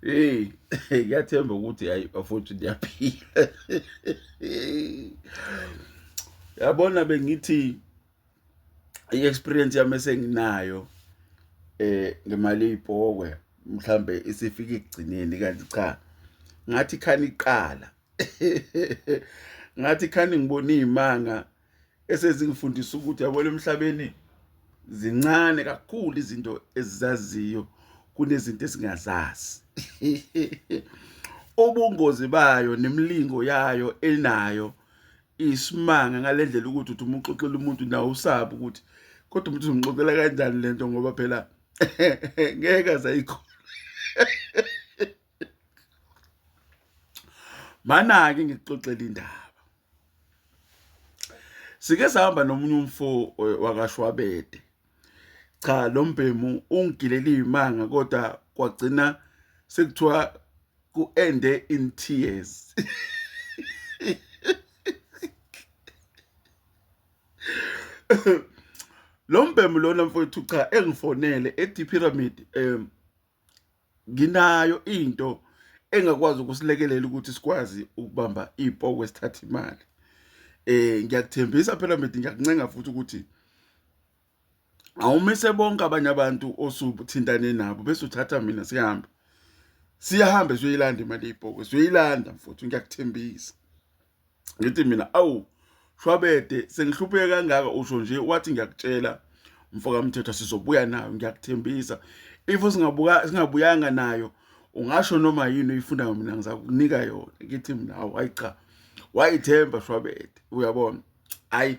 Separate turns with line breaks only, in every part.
hey ngiyathemba ukuthi hayi bafowethu ndiyaphila yabona bengithi i-experience yami esenginayo eh ngemali ibhokwe mhlambe isifika ekugcineni kanti cha ngathi khani iqala ngathi khani ngibona izimanga esezingifundisa ukuthi yabona emhlabeni zincane kakhulu izinto ezizaziyo kunezinto esingazazi ubungozi bayo nemlingo yayo enayo isimanga ngalendlela ukuthi uthi uma uxoxela umuntu nawe usabe ukuthi kodwa umuntu uzomxoxela kanjani lento ngoba phela ngeke azayikhona manake ngikuxoxela indaba sike sahamba nomunye umfo eh, wakashwabede cha lo mbhemu ungigilele imanga kodwa kwagcina sekuthiwa ku-ende in tears lo mbhemu lona mfowethu cha engifonele e-d pyramid um nginayo into engakwazi ukusilekelela ukuthi sikwazi ukubamba iy'poku esithatha imali um ngiyakuthembisa phela mithi ngiyakuncenga futhi ukuthi awumise bonke abanye abantu osuthintane nabo bese uthatha mina sihambe siyahambe siyoyilanda imali yey'poku siyoyilanda mfuthu ngiyakuthembisa ngithi mina awu shwabede sengihlupheke kangaka usho nje wathi ngiyakutshela mfokamthetho sizobuya nayo ngiyakuthembisa if singabuka singabuyanga nayo ungasho noma yini uyifunayo mina ngizakunika yona ngithi mina awu hayi cha wayithemba shwabede uyabona hayi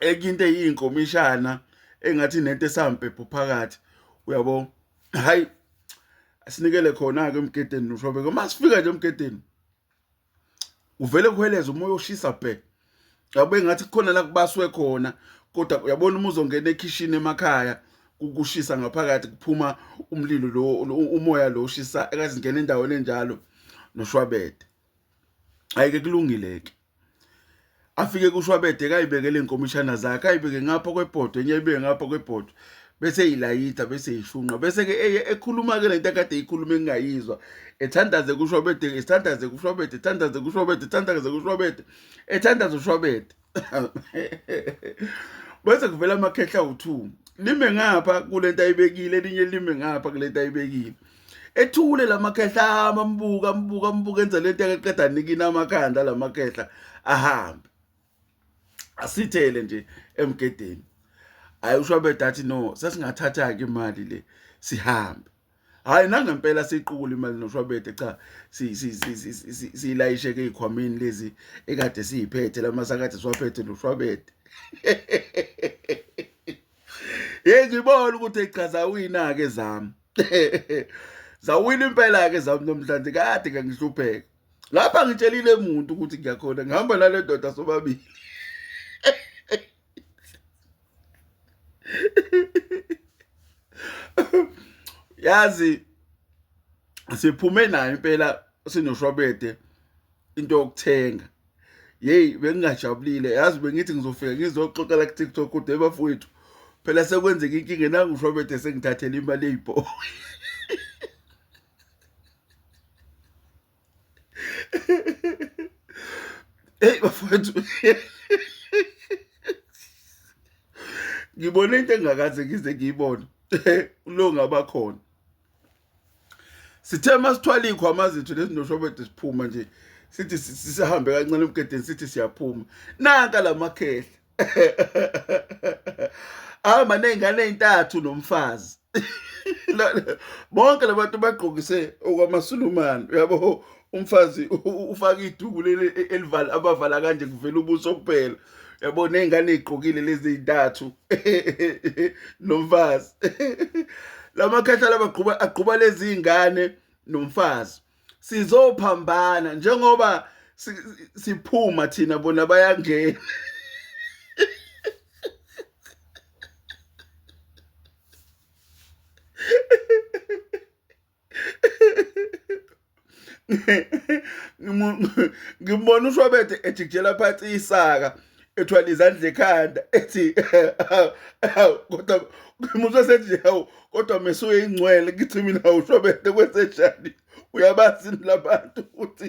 enye into eyinkomishana engathi nento esampepho phakathi uyabo hayi asinikele khona-ke emgedeni noshobeke uma sifika nje emgedeni uvele kuheleza umoya oshisa bhe yabo engathi kukhona la kubaswe khona kodwa uyabona uma uzongena ekhishini emakhaya kukushisa ngaphakathi kuphuma umlilo lo umoya lo ushisa ekazingena endaweni enjalo noshwabede ayike kulungile ke afike kushwabede kayibekele iy'nkomishana zakhe ayibeke ngapha kwebhodwe enye ayibeke ngapha kwebhodwe bese eyilayitha bese eyishunqa bese-ke eye ekhuluma-ke le nto akade eyikhuluma engingayizwa ethandaze kushwabede ethandaze kushwabede ethandaze kushwabede ethandaze kushwabede ethandaze ushwabede bese kuvela amakhehla awu-two lime ngapha kule nto ayibekile elinye lime ngapha kule nto ayibekile ethule lamakhehla ahamba ambuka ambuka ambuka enza lento eqeda nikina amakhanda lamakhehla ahambe asithele nje emgedeni hayi usho bedathi no sesingathatha ke imali le sihambe hayi nangempela siqukula imali noshwabede cha siyilayishe ke ikhwamini lezi ekade siyiphethe lamasakade siwaphethe noshwabede hey ngibona ukuthi echaza uyina ke zami zawina impela-ke zami nomhlanje kade kangihlupheka lapha ngitshelile muntu ukuthi ngiyakhona ngihamba nale ndoda sobabili yazi siphume nayo impela sinoshwabede into yokuthenga yeyi bengingajabulile yazi bengithi ngizofika ngizoxoxela ku-tiktok kodwa ebafowethu phela sekwenzeka inkinga nangushwabethe sengithathela imali eyibhowe eyi bafowethu ngibone into engakaze ngize ngiyibone lo ngabakhona sithe masithwala iy'khwama zethu lezi noshobede siphuma nje sithi sisahambe kancane emgedeni sithi siyaphuma nanka la makhehla ahamba ney'ngane ey'ntathu nomfazi bonke labantu bagqokise okwamasulumane uyabo umfazi ufaka iduku leli e, elivala abavala kanje kuvela ubuso kuphela yabo nezingane ezigqokile lezi zintathu nomfazi lamakhahlala abagquba agquba lezi zingane nomfazi sizophambana njengoba siphuma thina bona bayangena ngimbona ushwabethe ejikijela phansi isaka ethwala izandla ekhanda ethi kodwa ngimuzwe sethi hawu kodwa mesuye ingcwele ngithi mina ushwabethe kwenzenjani uyabazi labantu ukuthi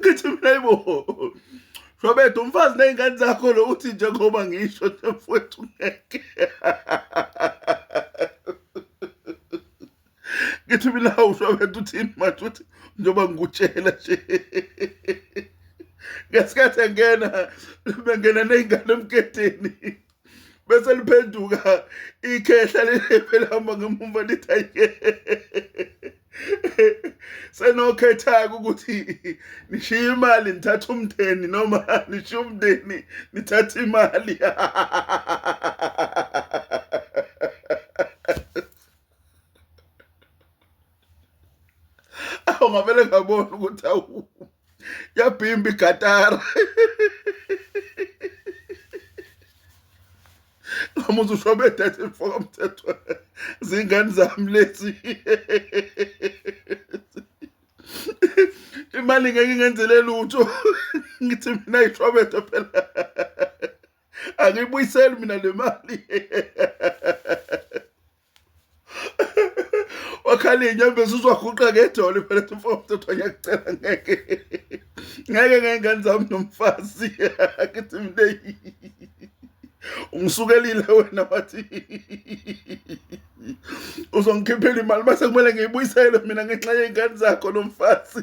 ngithi mina yibo Robert umfazi nezingane zakho lo uthi njengoba ngisho nje mfowethu ngeke ngithi mina uShobethu uthini manje uthi njengoba ngikutshela nje ngesikhathi engena bengena nezingane emgedeni bese liphenduka ikhehla leliphelamba ngemumva lithi ayike senokhetha-ke ukuthi nishiye imali nithathe umndeni noma nishiye umndeni nithathe imali awu ngavele ngabona ukuthi awu yabhimba igatara ngamuza usho bethethe mfoka mthethwa zingane zami lezi imali ngeke ngenzele lutho ngithi mina ishobetho phela angibuyiseli mina le mali wakhala inyembezi uzwaguqa ngedolo ibelethe umfowethu kuthiwa ngiyakucela ngeke ngeke ngey'ngane zami nomfazi akithi mina ungisukelile wena wathi uzongikhiphela imali mase kumele ngiyibuyisele mina ngenxa yey'ngane zakho nomfazi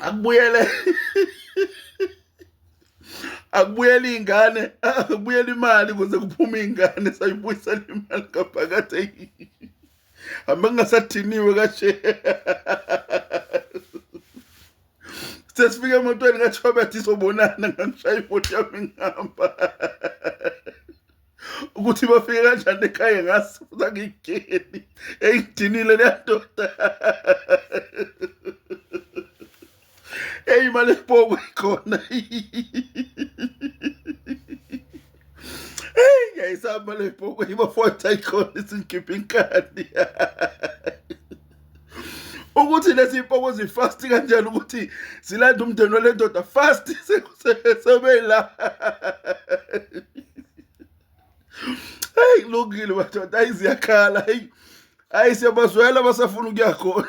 akubuyele akubuyela iy'ngane akubuyela imali kuze kuphume iy'ngane sayibuyisela imali ngaphakathi eyi hambe kungasadiniwe kashe sesifike emotweni kathobeth izobonana ngangishaya imoti yami ngihamba ukuthi bafike kanjani ekhaya ngazi futhi angiyigeni engidinile leyandoda eyi imali esibongo ikhona eyi ngiyayisaba imali esibongo ibafoyitha ikhona isingikhipha inkani ukuthi lezi mpoko zifast kanjani ukuthi zilanda umndeni wale ndoda fast sebeyila heyi kulungile madoda ayi ziyakhala heyi ayi siyabazwela basafuna ukuya khona